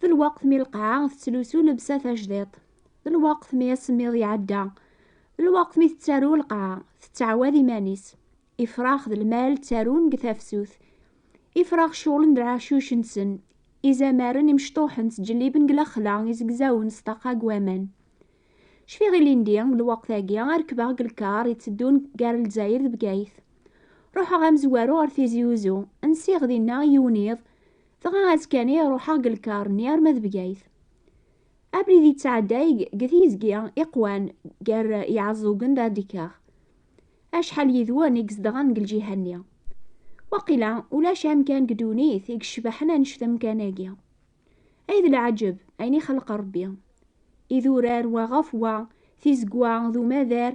d lweqt mi lqaɛa tettlusu lebsa tajdiṭ d lweqt mi asemmiḍ iɛedda d lweqt mi tettaru lqaɛa tettɛawad iman-is ifrax d lmal ttarun deg tafsut ifrax ccuɣlen d lɛacuc-nsen izamaren imecṭuḥen ttǧelliben deg lexla izegzawen s ṭaqa deg waman cfiɣ ilindi deg lweqt-agi ad rekbeɣ deg lkar itteddun gar lezzayer d bgayet ruḥeɣ amezwaru ar tizi uzu nsiɣ dinna yiwen iḍ Dɣa azekka-nni ruḥeɣ deg lkar-nni arma d Bgayet. Abrid yettɛedday deg tizgi iqwan gar Iɛeẓẓugen d Adikaɣ. Acḥal yid-wen i izedɣen deg lǧiha-nni? Waqila ulac amkan deg ddunit i yecbaḥen annect amkan-agi. Ay d leɛǧeb ayen ixelleq Rebbi! Idurar wa ɣef wa, tizegwa d umadar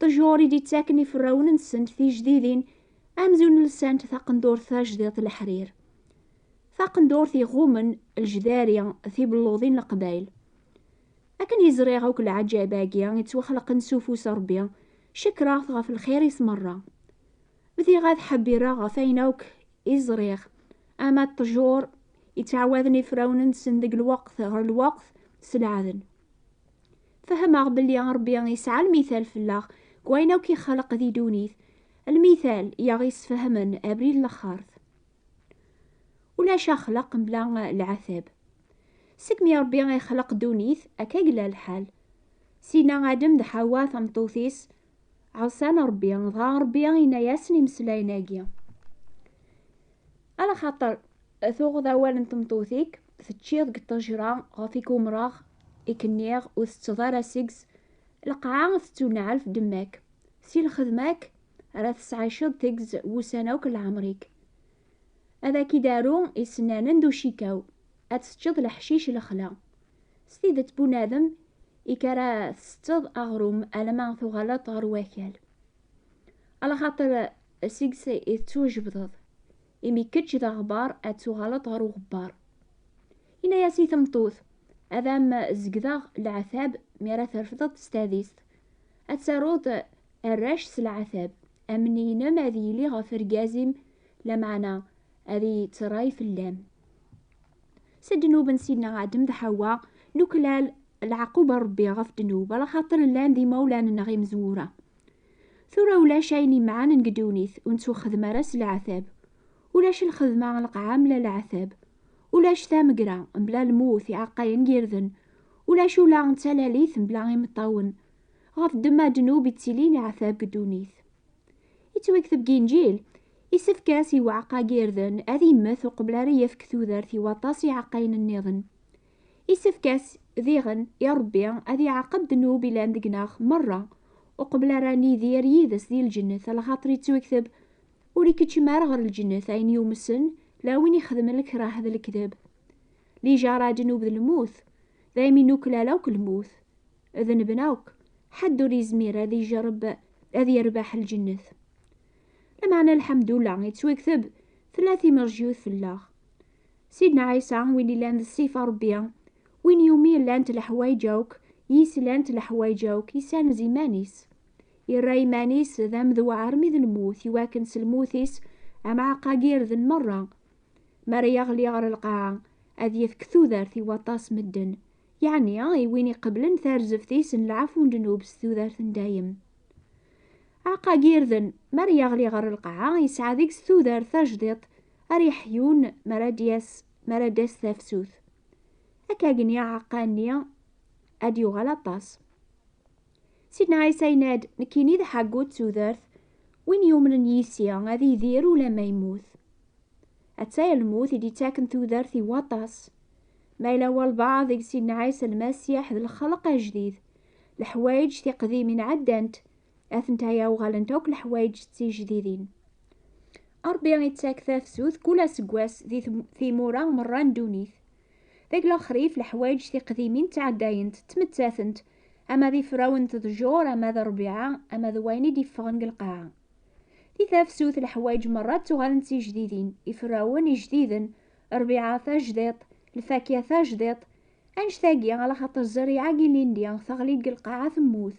ṭjur i d-ittaken iferrawen-nsent tijdidin amzun lsant taqendurt tajdiḍt leḥrir. Taqendurt iɣummen lejdari tibelluḍin n Leqbayel. Akken i ẓriɣ akk leɛǧayeb-agi ittwaxleqen s ufus n Rebbi, cekkreɣ-t ɣef lxir-is merra. Bdiɣ ad ḥebbireɣ ɣef ayen akk i ẓriɣ, ama d ṭjur ittɛawaden iferrawen-nsen deg lweqt ɣer lweqt s leɛden. Fehmeɣ belli Ṛebbi yesɛa lmithal fell-aɣ deg wayen akk ixleq di ddunit, lmithal i aɣ-yesfehmen abrid n laxert. Ulac axleq mebla leɛtab. Segmi Ṛebbi ixleq ddunit, akka i yella lḥal. Sidna Adem d Ḥawa tameṭṭut-is, Ɛusan Ṛebbi, dɣa Ṛebbi yenna-yasen imeslayen-agi. Ala xaṭer tuɣeḍ awal n tmeṭṭut-ik, teččiḍ deg ṭṭejṛa ɣef i k-umṛeɣ, i k-nniɣ, ur teţţeḍ ara seg-s, lqaɛa teţţunɛel f ddemma-k, si lxedma-k ara teţɛiceḍ tegz wussan akk n lɛemṛ-ik. Ad ak-id-aru isennanen d ucikaw, ad teţţeḍ leḥcic lexla. S tidet bunadem ik ara tsetteḍ aɣrum alama tuɣaleḍ ɣer wakal. Alaxaṭer seg-s i tettwajebdeḍ, imi kečč d aɣbar ad tuɣaleḍ ɣer uɣebbar. Yenna-as i tmeṭṭut, ad am zegdeɣ leɛtab mi ara trefdeḍ s tadist, ad taruḍ arrac s leɛtab, amney-inem ad yili ɣef rgaz-im, lameɛna ad yettray fell-am. s ddnub n Sidna Adem d Ḥawa, nuklal leɛqub n Rebbi ɣef ddnub, ala xaṭer llan d imawlan-nneɣ imezwura. Tura ulac ayen imɛanen deg ddunit, ur nettuxxedm ara s leɛtab. Ulac lxedma n lqaɛa mla leɛtab. Ulac tamegra mla lmut, iɛeqqayen n yirden. Ulac ula d talalit mla imeṭṭawen. Ɣef ddemma ddnub i ttilin iɛtab deg ddunit. Yettwakteb deg Inǧil, Isefk-as i uɛeqqa n yirden ad immet uqbel ara yefk tudert i waṭas iɛeqqayen nniḍen. Isefk-as, diɣen, i Ṛebbi ad iɛaqeb ddnub ilan deg-neɣ meṛṛa uqbel ara nidir yid-s di lǧennet, lxaṭer yettwekteb, Ur ikeččem ara ɣer lǧennet ayen yumsen, la win ixedmen lekrah d lekdeb. Lijaṛa ddnub d lmut, daymi nuklal akk lmut, dnebna akk, ḥedd ur yezmir ad ijerreb ad yerbeḥ lǧennet. Lameɛna lḥemdullah yettwakteb tella timerjyut fell-aɣ. Sidna Ɛisa, win yellan d ṣṣifa Ṛebbi, win iwumi llant leḥwayeǧ akk, yis llant leḥwayeǧ akk, yessanez iman-is. Yerra iman-is d amedwa armi d lmut i wakken s lmut-is amɛaqqa girden meṛṛa. Mi ara yeɣli ɣer lqaɛa, ad yefk tudert i waṭas medden, yeɛni i win iqeblen tarzeft-is n lɛafu n ddnub s tudert n dayem. Aɛqag irden, mi ara yeɣli ɣer lqaɛa, yesɛa deg-s tudert tajdiṭ ara yeḥyun mi ara d-yas mi ara d-tas tafsut. Akkag-nni aɛeqqa-nni ad d-yuɣal aṭas. Sidna Ɛisa yenna-d, Nekkini d aḥaggu d tudert, win yumnen yis-i ad idir ulamma yemmut. Atta i lmut i d-ittaken tudert i waṭas. Ma yella walbeɛḍ deg Sidna Ɛisa Lmasiḥ d lxelq ajdid, leḥwayeǧ tiqdimin ɛeddant, Atentaya uɣalent akk leḥwayeǧ d tijdidin. Ṛebbi ittak tafsut kul aseggas di timura merra n ddunit. Deg lexrif, leḥwayeǧ tiqdimin ttɛeddayent, ttmettatent, ama d ifraw n tḍejur, ama d ṛbiɛa, ama d wayen i d-iffɣen deg lqaɛa. Di tafsut, leḥwayeǧ merra ttuɣalen d tijdidin, ifrawen ijdiden, ṛbiɛa tajdiṭ, lfakya tajdiṭ. Annect-agi, alaxaṭer zzerriɛa-agi ilindi teɣli-d deg lqaɛa temmut.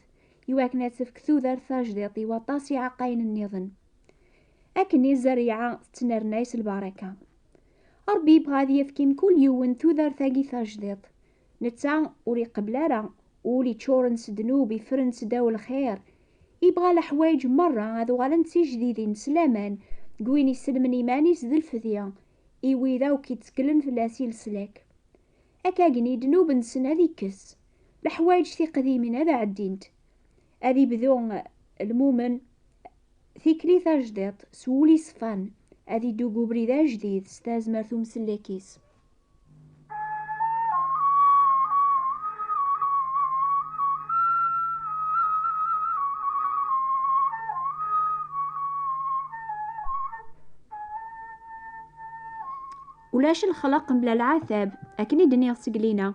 i wakken ad tefk tudert tajdiḍt i waṭas iɛeqqayen nniḍen. Akken i zerriɛa tettnernay s lbaraka. Ṛebbi yebɣa ad yefk i mkul yiwen tudert-agi tajdiḍt. Netta ur iqebbel ara ul iččuren s ddnub ifren seddaw lxir. Yebɣa leḥwayeǧ meṛṛa ad uɣalen d tijdidin s laman deg win isellmen iman-is d lfedya i wid akk itteklen fell-as i leslak. ad agni ddnub-nsen ad ikkes, leḥwayeǧ tiqdimin ad ɛeddint, ad ibdu lmumen tikli tajdiṭ s wul iṣfan, ad iddu deg ubrid ajdid s tazmert umsellek-is. ulac lxelq mebla lɛatab akken i d-nniɣ seglina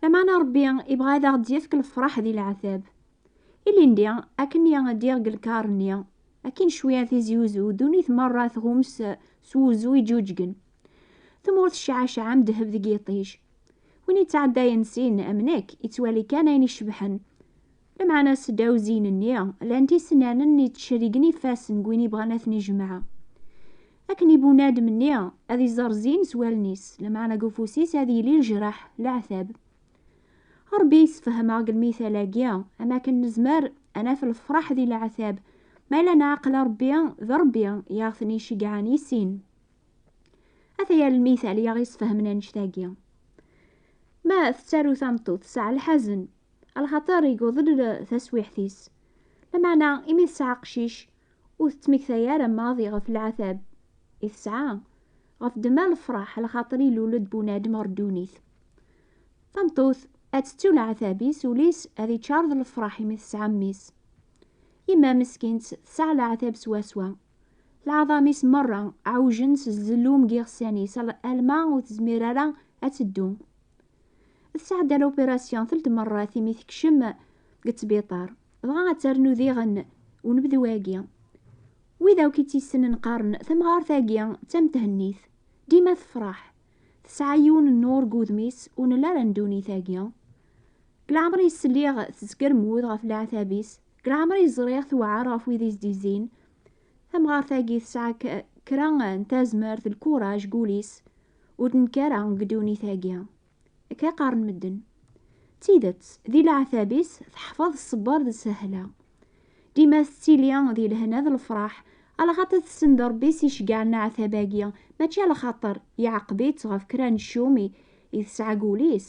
lameɛna rebbi ibɣa ad aɣ-d-yefk lefraḥ di lɛatab ilindi akken i d-diɣ deg lkar-nni akin cwiya tizi uzu dunit merra tɣum s s wuzu iǧuǧgen tmurt ccaɛcaɛ am ddheb deg yiṭij win yettɛeddayen sin am nekk yettwali kan ayen icebḥen Lameɛna sedɛuziyen-nni lan tisenanen yettcerrigen ifassen n win yebɣan ad ten-ijemɛa. Akken i bunadem-nni ad iẓer zzin s wallen-is, lameɛna deg ufus-is ad yili lejreḥ, leɛtab. Rebbi yessefhem-aɣ deg lmithal-agi am wakken nezmer ad naf lefraḥ di leɛtab, ma yella neɛqel Rebbi d Rebbi i aɣ-ten-iceggɛen i sin. Ata-ya lmithal i aɣ-yessefhmen annect-agi. Ma tettaru tameṭṭut tesɛa lḥazen, alxaṭer iguḍen taswiḥt-is, lameɛna imi tesɛa aqcic ur tettmekta ara maḍi ɣef lɛatab i tesɛa, ɣef ddemma lefraḥ alxaṭer ilul-d bunadem ɣer ddunit. Tameṭṭut ad tettu lɛatab-is, ul-is ad iččar d lefraḥ imi tesɛa mmi-s. Yemma meskint tesɛa lɛatab swaswa. Lɛaḍam-is merra ɛujen s zzellum n yiɣsan-is alma ur tezmir ara ad teddu. Tesɛedda l'opération telt merrat imi tekcem deg ttbiṭar, dɣa ad ternu diɣen unebdu-agi. Wid akk i tt-yessnen qqaren tamɣart-agi d tamethennit, dima tefreḥ, tesɛa yiwen n nnur deg wudem-is ur nelli ara ndunit-agi. Deg leɛmer-is sliɣ tezgermud ɣef leɛtab-is, deg leɛmer-is ẓriɣ tewɛer ɣef wid i s-d-izzin. Tamɣart-agi tesɛa kra n tazmert, lkuraj deg wul-is, ur d-nekkar ara deg ddunit-agi. Akka i qqaren medden. D tidet, di leɛtab-is teḥfeḍ ṣṣber d sehla. Dima tettili di lehna d lefraḥ, alaxaṭer tessen d Ṛebbi-s iceggeɛen aɛtab-agi, mačči alaxaṭer iɛeqeb-itt ɣef kra n ccumi i tesɛa deg wul-is,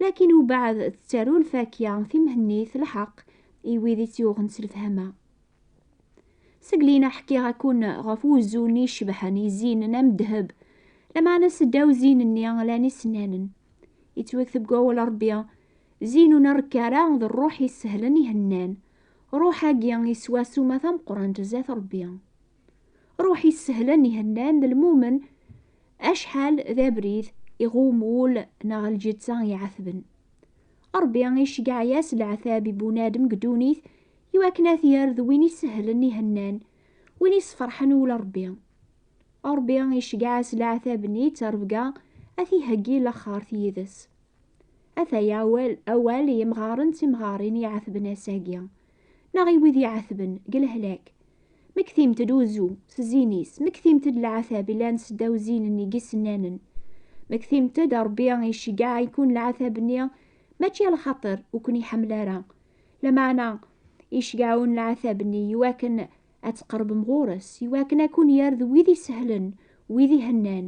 Lakin ubeɛd tettaru lfakya timhennit lḥeq i wid i tt-yuɣen s lefhama. Seg lina ḥkiɣ-akun ɣef wuzzu-nni icebḥen i zzinen am ddheb, lameɛna seddaw zzin-nni llan isennanen. Yettwakteb deg wawal Ṛebbi, Zzin ur nrekk ara, d ṛṛuḥ isehlen ihennan. Ṛṛuḥ-agi yeswa ssuma tameqqrant zdat Ṛebbi. Ruḥ yessehlen ihennan d lmumen acḥal d abrid iɣum wul neɣ lǧetta iɛatben. Ṛebbi iceggeɛ-as leɛtab i bunadem deg ddunit i wakken ad t-yerr d win isehlen ihennan, win isferḥen wul Ṛebbi. Ṛebbi iceggeɛ-as leɛtab-nni d tarebga ad t-iheggi laxert yid-s. Ataya awal i yemɣaren d timɣarin iɛatben ass-agi, neɣ i wid iɛatben deg lehlak, Mektimt-d uzu s zzin-is, mektimt-d leɛtab ilan seddaw zzin-nni g isennanen. Mektimt-d Rebbi iceggeɛ-iken leɛtab-nni mačči alxaṭer ur ken-iḥemmel ara, lameɛna iceggeɛ-wen leɛtab-nni iwakken ad tqerbem ɣur-s, iwakken ad ken-yerr d wid isehlen, wid ihennan.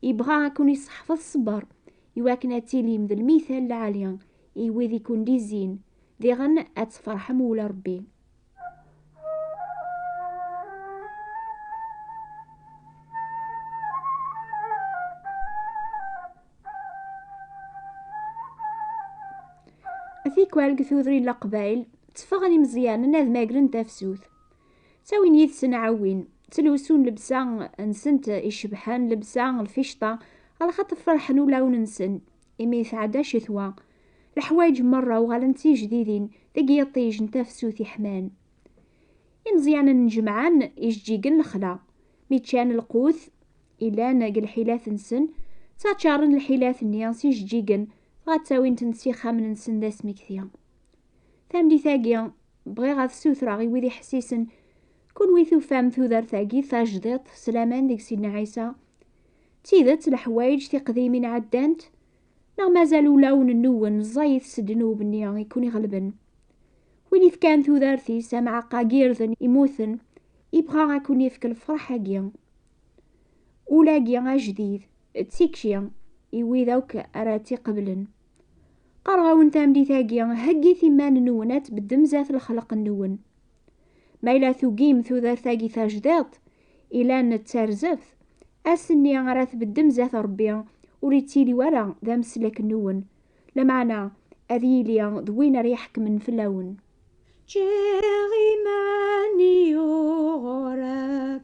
Ibɣa ad ken-iseḥfeḍ ṣṣber, iwakken ad tilim d lmital lɛali i wid i ken-d-izzin, diɣen ad tferḥem ula Rebbi. Tikwal deg tudrin laqbayl, tteffɣen imezyanen ad magren tafsut. Ttawin yid-sen ɛawin, ttlusun lebsa nsent icebḥen, lebsa lficṭa, alxaṭ ferḥen ulawen-nsen, imi tɛedda ccetwa. Leḥwayeǧ merra uɣalen d tijdidin deg yiṭij n tafsut iḥman. Imeẓyanen jemɛen ijeǧǧigen lexla, mi ččan lqut ilan deg lḥilat-nsen, ttaččaren lḥilat-nni s ijeǧǧigen dɣa ttawin-tent s ixxamen-nsen d asmekti. Tamlit-agi, bɣiɣ ad t-ssutreɣ i wid iḥessisen, kunwi tufam tudert-agi tajdiṭ s laman deg Sidna Ɛisa? D tidet leḥwayeǧ tiqdimin ɛeddant, Neɣ mazal ulawen-nnuwen ẓẓayit s ddnub-nni i ken-iɣelben? Win ifkan tudert-is amɛaqqa n yirden immuten, ibɣa ad ken-ifk lefraḥ-agi. Ul-agi ajdid, d tikci i wid akk ara tt-iqeblen. Qqareɣ-awen tameddit-agi, heggit iman-nwen ad tbeddem zdat lexleq-nwen. Ma yella tugim tudert-agi tajdiḍt, ilan d tarzeft, ass-nni ara tbeddem zat Rebbi, ur ittili wara d ameslek-nwen, lameɛna ad yili d win ara iḥekmen fell-awen. Ččiɣ iman-iw ɣur-k,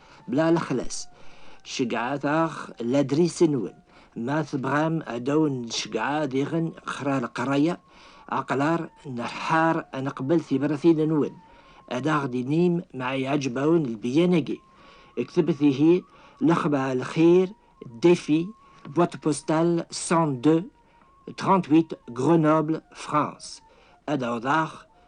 bla lexlas. Ceggɛet-aɣ ladris-nwen. Ma tebɣam ad awen-d-ceggɛeɣ diɣen xra leqraya, aqlar, neḥḥar ad neqbel tibratin-nwen. Ad aɣ-d-tinim ma iɛǧeb-awen lbeyyan-agi. Ktebet ihi Lexba Lxir, Défi, boîte postale 102 38 Grenoble, France. Ad awḍeɣ